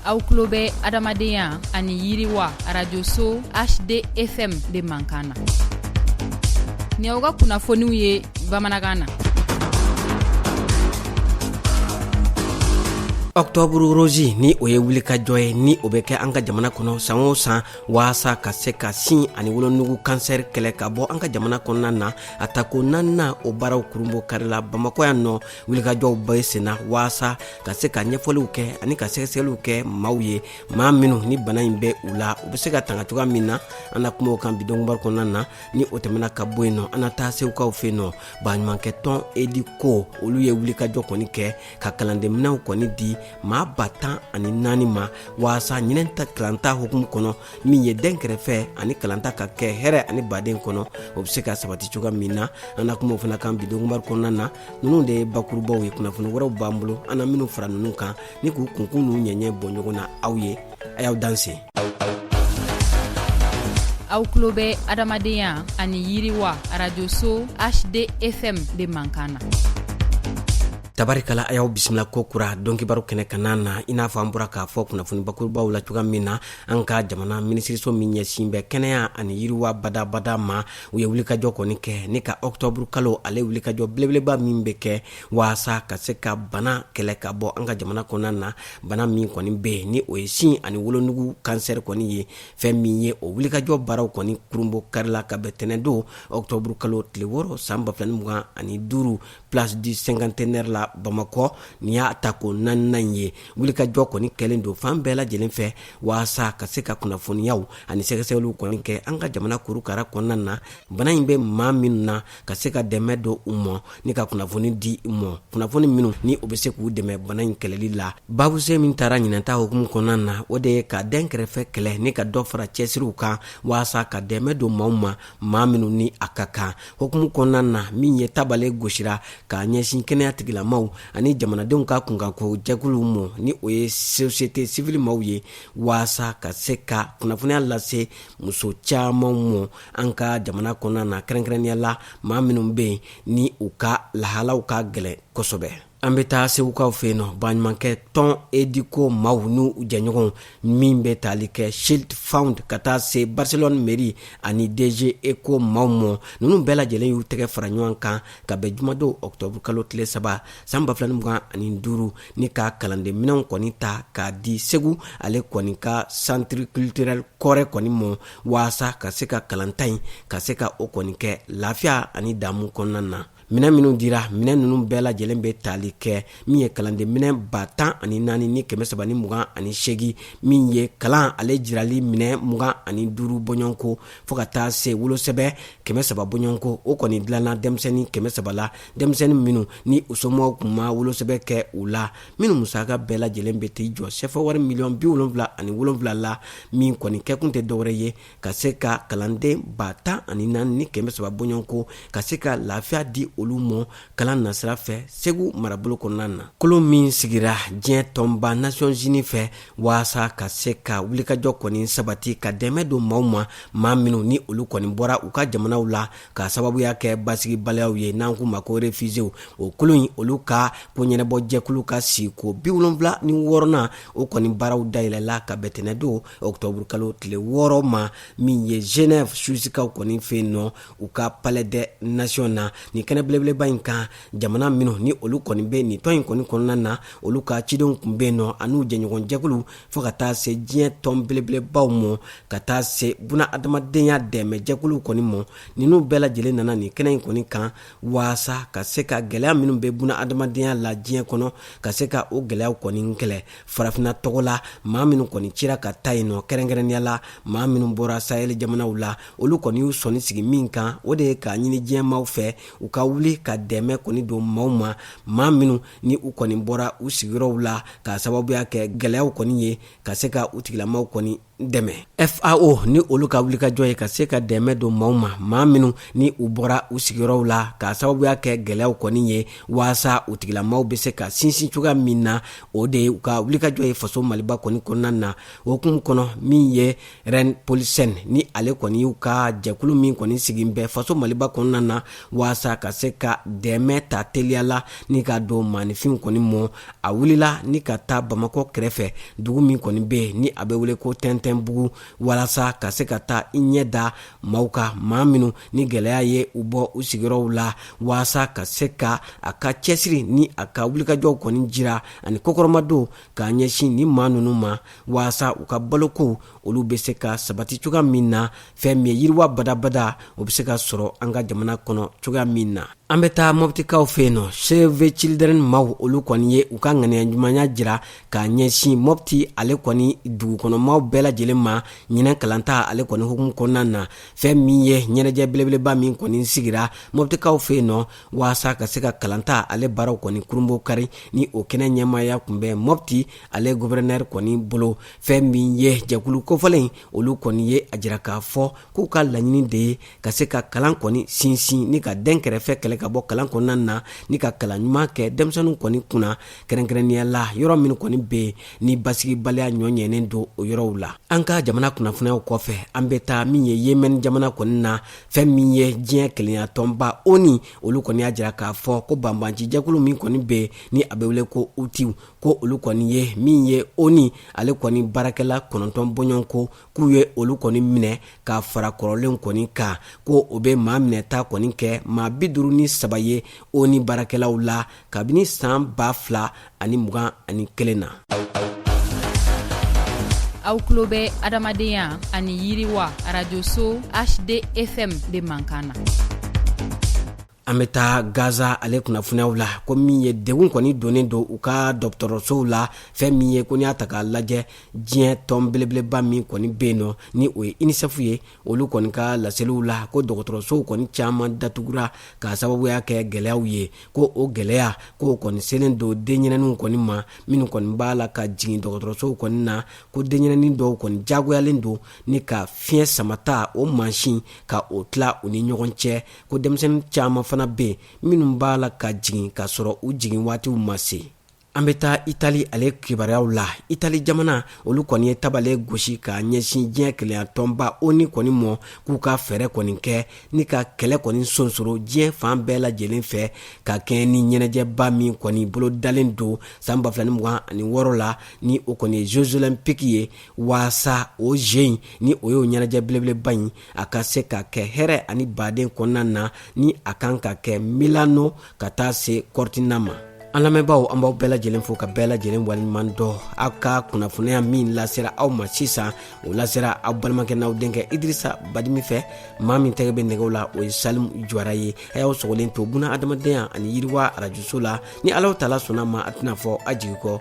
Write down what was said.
aw tulo bɛ adamadenya ani yiriwa arajoso hdfm de mankan na ni aw ka kunnafoniw ye bamanankan na ɔktɔburu rozi ni o ye wulikajɔ ye ni o bɛ kɛ an ka jamana kɔnɔ san o san waasa ka se ka sin ani wolonugu kansɛri kɛlɛ ka bɔ an ka jamana kɔnɔna na a ta ko naaninan o baaraw kurunbon karila bamakɔ yan nɔ wulikajɔw bɛ senna waasa ka se ka ɲɛfɔliw kɛ ani ka sɛgɛsɛgɛliw kɛ maaw ye maa minnu ni bana in bɛ u la u bɛ se ka tanga cogoya min na an na kuma o kan bi dɔnkibaru kɔnɔna na ni o tɛmɛna ka bɔ yen nɔ an na taa segukaw fɛ yen nɔ baɲumankɛ tɔn Educo olu ye wulikajɔ kɔni kɛ ka kalandenminɛnw kɔni di maa ba tan ani naani ma waasa ɲinɛn ta kalanta hukumu kɔnɔ min ye dɛnkɛrɛfɛ ani kalanta ka kɛ hɛrɛ ani baden kɔnɔ o bɛ se ka sabati cogoya min na an na kuma o fana kan bi dɔnkibaru kɔnɔna na ninnu de ye bakurubaw ye kunnafoni wɛrɛw b'an bolo an na minnu fara ninnu kan ni k'u kunkun n'u ɲɛɲɛ bɔ ɲɔgɔn na aw ye a y'aw danse aw tulo bɛ adamadenya ani yiriwa arajoso hdfm de mankan na tabarikala a y'aw bisimila ko kura dɔnkibaru kɛnɛ kanna na i n'a fɔ an bɔra k'a fɔ kunnafoni bakurubaw la cogoya min na an ka jamana minisiriso min ɲɛsin bɛ kɛnɛya ani yiriwa badabada ma u ye wulikajɔ kɔni kɛ ni ka octobre kalo ale wulikajɔ belebeleba min bɛ kɛ waasa ka se ka bana kɛlɛ ka bɔ an ka jamana kɔnɔna na bana min kɔni bɛ yen ni o ye sin ani wolonugu kansɛri kɔni ye fɛn min ye o wulikajɔ baaraw kɔni kurunbon karila ka bɛn tɛnɛndon octobre kalo tile wɔɔrɔ san ba fila ni mugan ani duuru place du cinquantenaire la Bamakɔ nin y'a ta ko naaninan in ye wulikajɔ kɔni kɛlen don fan bɛɛ lajɛlen fɛ waasa ka se ka kunnafoniyaw ani sɛgɛsɛgɛliw kɔni kɛ an ka jamana kurukara kɔnɔna na bana in bɛ maa minnu na ka se ka dɛmɛ don u ma ni ka kunnafoni di u ma kunnafoni minnu ni o bɛ se k'u dɛmɛ bana in kɛlɛli la babuse min tara ɲinan ta hukumu kɔnɔna na o de ye ka dɛnkɛrɛfɛ kɛlɛ ni ka dɔ fara cɛsiriw kan waasa ka dɛmɛ don maaw ma maa minnu ni a ka kan hukumu kɔnɔna na min ye tabale gosira ka ɲɛsin kɛnɛya tigilamaw ani jamanadenw ka kunkanko jɛkuluw mɔ ni o ye sosiyete sivili maaw ye waasa ka se ka kunnafoniya lase muso caman mɔ an ka jamana kɔnɔna na kɛrɛnkɛrɛnnenya la maa minnu bɛ yen ni u ka lahalaw ka gɛlɛn kosɛbɛ An bɛ taa segukaw fɛ yen nɔ baɲumankɛ tɔn Educo maaw n'u jɛɲɔgɔnw min bɛ tali kɛ ChildFund ka taa se Barcelone mairie ani DG ECHO maaw mɔ ninnu bɛɛ lajɛlen y'u tɛgɛ fara ɲɔgɔn kan ka bɛn jumadon octobre kalo tile saba san ba fila ni mugan ani duuru ni ka kalandenminɛnw kɔni ta k'a di segu ale kɔni ka centre culturel Kɔrɛ kɔni mɔ waasa ka se ka kalanta in ka se ka o kɔni kɛ lafiya ani daamu kɔnɔna na minɛn minnu dira minɛn ninnu bɛɛ lajɛlen bɛ tali kɛ min ye kalanden minɛn ba tan ani naani ni kɛmɛ saba ni mugan ani segin min ye kalan ale jirali minɛn mugan ani duuru bɔɲɔgɔnko fɔɔ ka taa se wolosɛbɛ kɛmɛ saba bɔɲɔgɔnko o kɔni dilanna denmisɛnnin kɛmɛ saba la denmisɛnnin minnu ni u somɔgɔw kun ma wolosɛbɛ kɛ u la minnu musaka bɛɛ lajɛlen bɛ t'i jɔ sɛfɛwari miliyɔn bi wolonwula ani wolonwula la min kɔni kɛkun tɛ dɔwɛrɛ ye ka se ka kalanden ba tan ani naani ni kɛmɛ saba bɔɲɔgɔn ko ka se ka lafiya di olu mɔ kalan nasira fɛ segu marabolo kɔnɔna na kulu min sigira diɲɛ tɔnba nations unies fɛ waasa ka se ka wulikajɔ kɔni sabati ka dɛmɛ don maaw ma maa minw ni olu kɔni bɔra u ka jamanaw la k'a sababuya kɛ basigibaliyaw ye n'an k'u ma ko refiziyew o kulu in olu ka koɲɛnabɔ jɛkulu ka sigiko bi wolonfila ni wɔɔrɔnan o kɔni baaraw dayɛlɛla ka bɛn tɛnɛndon ɔkutɔburu kalo tile wɔɔrɔ ma min ye genève suwisikaw kɔni fɛ yen nɔ u ka palais des nations na nin kɛnɛ belebeleba in kan jamana minnu ni olu kɔni bɛ nin tɔn in kɔni kɔnɔna na olu ka cidenw kun bɛ yen nɔ an'u jɛɲɔgɔnjɛkulu fo ka taa se diɲɛ tɔn belebelebaw ma ka taa se bunadamadenya dɛmɛjɛkulu kɔni ma ninnu bɛɛ lajɛlen nana nin kɛnɛ in kɔni kan walasa ka se ka gɛlɛya minnu bɛ bunadamadenya la diɲɛ kɔnɔ ka se ka o gɛlɛya kɔni kɛlɛ farafinna tɔgɔ la maa minnu kɔni cira ka taa yen nɔ kɛrɛnkɛrɛnnenya la maa minnu bɔra sahɛli jamanaw la olu kɔni y'u sɔnin sigi min kan o de ye k'a ɲini diɲɛ maaw fɛ u ka wuli ka dɛmɛ kɔni don maaw ma maa minnu ni u kɔni bɔra u sigiyɔrɔw la k'a sababuya kɛ gɛlɛyaw kɔni ye ka se ka u tigilamaw kɔni dɛmɛ fao ni olu ka wulikajɔ ye ka se ka dɛmɛ don maaw ma maa minnu ni u bɔra u sigiyɔrɔw la k'a sababuya kɛ gɛlɛyaw kɔni ye waasa u tigilamaw bɛ se ka sinsin cogoya min na o de ye u ka wulikajɔ ye faso maliba kɔni kɔnɔna na o hukumu kɔnɔ min ye rein paulsen ni ale kɔni y'u ka jɛkulu min kɔni sigin bɛ faso maliba kɔnɔna na waasa ka se ka dɛmɛ ta teliya la ni ka don maanifinw kɔni mɔ a wulila ni ka taa bamakɔ kɛrɛfɛ dugu min kɔni bɛ yen ni a bɛ wele ko tɛntɛnbugu walasa ka se ka taa i ɲɛ da maaw kan maa minnu ni gɛlɛya ye u bɔ u sigiyɔrɔw la walasa ka se ka a ka cɛsiri ni a ka wulikajɔw kɔni jira ani kɔkɔrɔmadon k'a ɲɛsin ni maa ninnu ma walasa u ka balokow olu bɛ se ka sabati cogoya min na fɛn min ye yiriwa badabada o bɛ se ka sɔrɔ an ka jamana kɔnɔ cogoya min na an bɛ taa mɔpitikaw fɛ yen nɔ save children maaw olu kɔni ye u ka ŋaniya ɲumanya jira ka ɲɛsin mɔpiti ale kɔni dugukɔnɔmaw bɛɛ lajɛlen ma ɲinɛ kalanta ale kɔni hukumu kɔnɔna na fɛn min ye ɲɛnajɛ belebeleba min kɔni sigira mɔpitikaw fɛ yen nɔ waasa ka se ka kalanta ale baaraw kɔni kurunbonkari ni o kɛnɛ ɲɛmaaya kun bɛ mɔpiti ale guvɛrɛnɛri kɔni bolo fɛn min ye jɛkulu kofɔlen in olu kɔni ye a jira k'a fɔ k'u ka laɲini de ye ka se ka kalan kɔni sinsin ni ka dɛnkɛrɛfɛ kɛlɛ ka bɔ kalan kɔnɔna na ni ka kalan ɲuman kɛ denmisɛnninw kɔni kunna kɛrɛnkɛrɛnnenya la yɔrɔ min kɔni bɛ yen ni basigibaliya ɲɔɲɛnen don o yɔrɔw la an ka jamana kunnafoniyaw kɔfɛ an bɛ taa min ye yemɛni jamana kɔni na fɛn min ye diɲɛ kelenya tɔnba oni olu kɔni y'a jira k'a fɔ ko banbaanci jɛkulu min kɔni bɛ ni a bɛ wele ko utiw ko olu kɔni ye min ye oni ale kɔni baarakɛla kɔnɔntɔn bɔɲɔgɔnko k'u ye olu kɔni minɛ ka fara kɔrɔlenw kɔni kan ko o bɛ maa minɛta kɔni kɛ maa bi duuru ni saba ye oni baarakɛlaw la kabini san ba fila ani mugan ani kelen na aw tulo bɛ adamadenya ani yiriwa arajoso hdfm de mankan na an bɛ taa gaza ale kunnafoniyaw la ko min ye degun kɔni donnen don u ka dɔgɔtɔrɔsow la fɛn min ye ko n'i y'a ta k'a lajɛ diɲɛ tɔn belebeleba min kɔni bɛ yen nɔ ni o ye inisɛfu ye olu kɔni ka laseliw la ko dɔgɔtɔrɔsow kɔni caman datugura k'a sababuya kɛ gɛlɛyaw ye ko o gɛlɛya ko kɔni selen don denyɛrɛninw kɔni ma minnu kɔni b'a la ka jigin dɔgɔtɔrɔsow kɔni na ko denyɛrɛnin dɔw kɔni diyagoyalen don ni ka fiɲɛ samata o mansin ka o tila u ni ɲɔgɔn cɛ ko denmisɛnnin caman fana bɛ yen minnu b'a la ka jigin k'a sɔrɔ u jigin waatiw ma se an bɛ taa itali ale kibaruyaw la itali jamana olu kɔni ye tabale gosi ka ɲɛsin diɲɛ kelenya tɔnba oni kɔni ma k'u ka fɛɛrɛ kɔni kɛ ni ka kɛlɛ kɔni sonsoro diɲɛ fan bɛɛ lajɛlen fɛ ka kɛɲɛ ni ɲɛnajɛba min kɔni bolodalen don san ba fila ni mugan ani wɔɔrɔ la ni o kɔni ye jeux olympiques ye waasa o jeux in ni o y'o ɲɛnajɛ belebeleba ye a ka se ka kɛ hɛrɛ ani baden kɔnɔna na ni a kan ka kɛ milano ka taa se kɔrɔtina ma an lamɛnbaaw an b'aw bɛɛ lajɛlen fo ka bɛɛ lajɛlen waleɲuman dɔn aw ka kunnafoniya min lasera aw ma sisan o lasera aw balimakɛ n'aw denkɛ idrisa badimi fɛ maa min tɛgɛ bɛ nɛgɛw la o ye salimu jwara ye a y'aw sɔgɔlen to buna adamadenya ani yiriwa arajoso la ni alahu taala sɔnna ma a tɛna fɔ a jigi kɔ